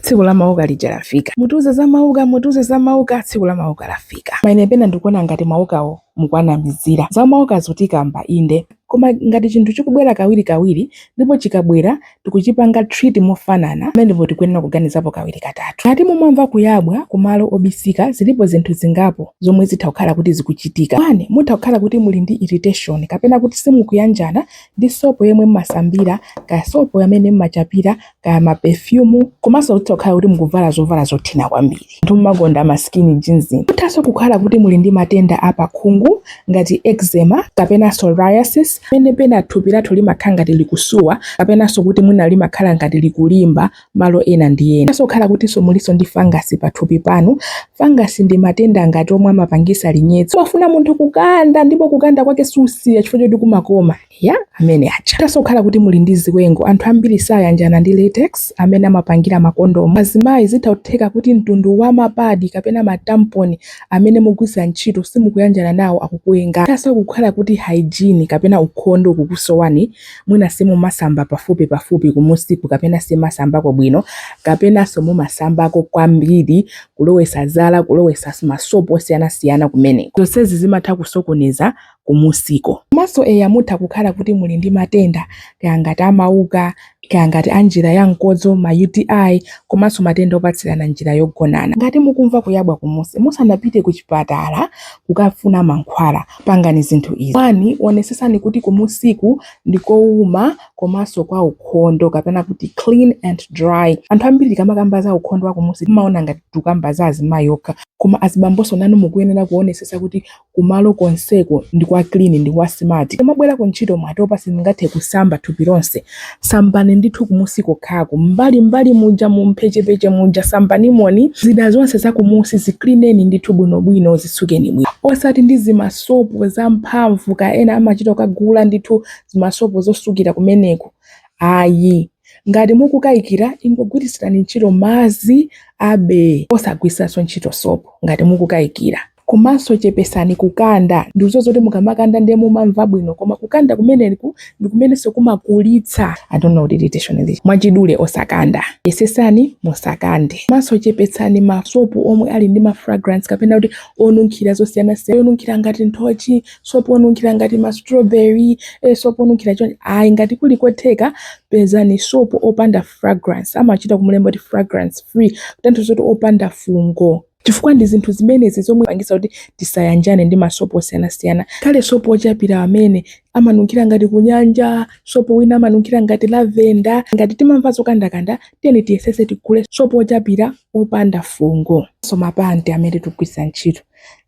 tsiku la mauka lija lafika mutiuze za mauka mutiuze za mauka tsiku la mauka lafika maine pena ndikuona ngati maukawo mukuwanamizira za mauka zotikamba inde koma ngati chinthu chikubwera kawiri kawiri ndipo chikabwera tikuchipanga treat mofanana ndiye pamenepo tikuyenera kuganizapo kawiri katatu ngati mumamva kuyabwa kumalo obisika zilipo zinthu zingapo zomwe zitha kukhala kuti zikuchitika one mutha kukhala kuti muli ndi irritation kapena kuti simukuyanjana ndi sopo yemwe mmasambira ka sopo amene mmachapira kaya ma perfume komanso mutha kukhala kuti mukuvala zovala zothina kwambiri anthu mumakonda ma skinny jeans muthanso kukhala kuti muli ndi matenda a pakhungu ngati eczema kapena psoriasis penapena thupi lathu limakhala ngati likusuwa kapenanso kuti mwina limakhala ngati likulimba malo ena ndi ena muthanso kukhala kutinso mulinso ndi fangasi pathupi panu fangasi ndi matenda ngati omwe amapangisa linyetso umafuna munthu kukanda ndipo kukanda kwake susiya chifukwa choti kumakoma ya amene aja muthanso kukhala kuti muli ndi ziwengo anthu ambiri sayanjana ndi latex amene amapangira makondomu azimayi zitha kutheka kuti mtundu wa mapadi kapena matamponi amene mugwiritsa ntchito simukuyanjana nawo akukuwenga muthanso kukhala kuti hygiene kapena ukhondo ukukusowani mwina simumasamba pafupi pafupi kumusiku kapena simumasambako bwino kapenanso mumasambako kwambiri kulowesa zala kulowesa masopo osiyanasiyana kumene zonsezi zimatha kusokoneza kumusiko. Komanso eya mutha kukhala kuti muli ndi matenda kaya ngati a mauka, kaya ngati a njira ya mkodzo, ma UTI, komanso matenda opatsirana m'njira yogonana. Ngati mukumva kuyabwa kumusi musanapite kuchipatala kukafuna mankhwala, pangani zinthu izi, 1 Onesetsani kuti kumusiku ndi kouma komanso kwa ukhondo kapena kuti clean and dry. Anthu ambiri tikamakamba za ukhondo wa kumusi timaona ngati tikukamba za azimayi okha koma azibambonso nanu mukuyenera kuonesesa kuti kumalo konseko ndi kwa clean ndi kwa smart mwabwera ku ntchito mwatopa simungathe kusamba thupi lonse sambani ndithu kumusi kokhako m'mbali m'mbali muja mu mphechepeche muja sambanimoni zida zonse zakumusi ziklineni ndithu bwinobwino zitsukeni bwino osati ndi zimasopo zamphamvu kaya ena amachita kukagula ndithu zimasopo zosukira kumeneko ayi ngati mukukayikira ingogwiritsirani ntchito madzi basi osagwiritsanso ntchito sopo ngati mukukayikira Komanso chepesani kukanda. Ndikuziwa zoti mukamakanda ndiye mumamva bwino koma kukanda kumeneku ndikumenenso kumakulitsa I don't know kuti titi chonelii. Mwachidule osakanda. Yesesani musakande. Komanso chepetsani masopo omwe ali ndi ma fragrance kapena kuti onunkhira zosiyanasiya yonunkhira ngati nthochi, sopo onunkhira ngati ma strawberry, eh sopo onunkhira chonchi ayi ngati kuli kotheka pezani sopo opanda fragrance amachita kumulemba kuti fragrance free kutanthauza zoti opanda fungo. Chifukwa ndi zinthu zimenezi zomwe zimapangitsa kuti tisayanjane ndi masopo osiyanasiyana. Kaya ndi sopo wochapira amene amanunkhira ngati kunyanja, sopo wina amanunkhira ngati lavenda. Ngati timamva zokandakanda, tiyeni tiyesetse tigule sopo wochapira wopanda fungo. Komanso mapanti amene tikugwiritsa ntchito.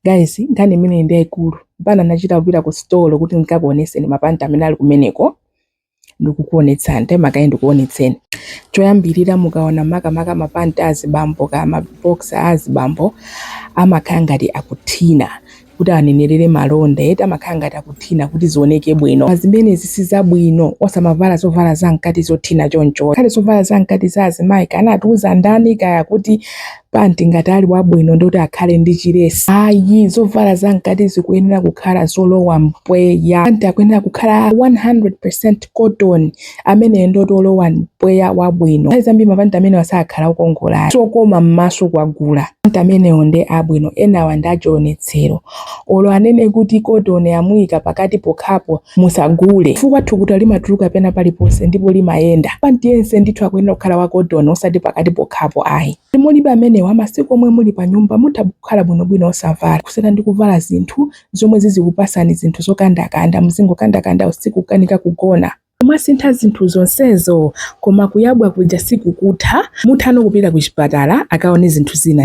Guys, nkhani imeneyi ndi yaikulu. Mpaka ndinachita kupita kusitolo kuti ndikakuonetseni mapanti amene ali kumeneko. ndikukuonetsani taimani kaye ndikuonetseni choyambirira mukaona makamaka mapanti azibambo ka maboxer azibambo amakhala ngati akuthina kuti anenerere malonda eti amakhala ngati akuthina kuti zioneke bwino Zimene zija si zabwino osamavala zovala zamkati zothina choncho ngakhale zovala zamkati za azimayi kaya anatiuza ndani kaya kuti panti ngati ali wabwino ndoti akhale ndi chilesi ayi zovala za mkati zikuyenera kukhala zolowa mpweya panti akuyenera kukhala 100% cotton ameneyo ndoti olowa mpweya wabwino nthawi zambiri mapanti amenewa sakhala okongola sokoma m'maso kwagula panti amenewo ndi abwino enawa ndi achiwonetsero olo anene kuti cotton amuyika pakati pokhapo Musagule chifukwa thukuta limatuluka pena paliponse ndipo limayenda. Panti yense ndithu akuyenera kukhala wa cotton osati pakati pokhapo ayi. Ngati mulibe amenewa, masiku omwe muli panyumba mutha kukhala bwinobwino osavala kusiyana ndi kuvala zinthu zomwe zizikupatsani zinthu zokandakanda, muzingokandakanda usiku kukanika kugona. Mwasintha zinthu zonsezo koma kuyabwa kuja sikukutha, mutha no kupita kuchipatala akaone zinthu zina.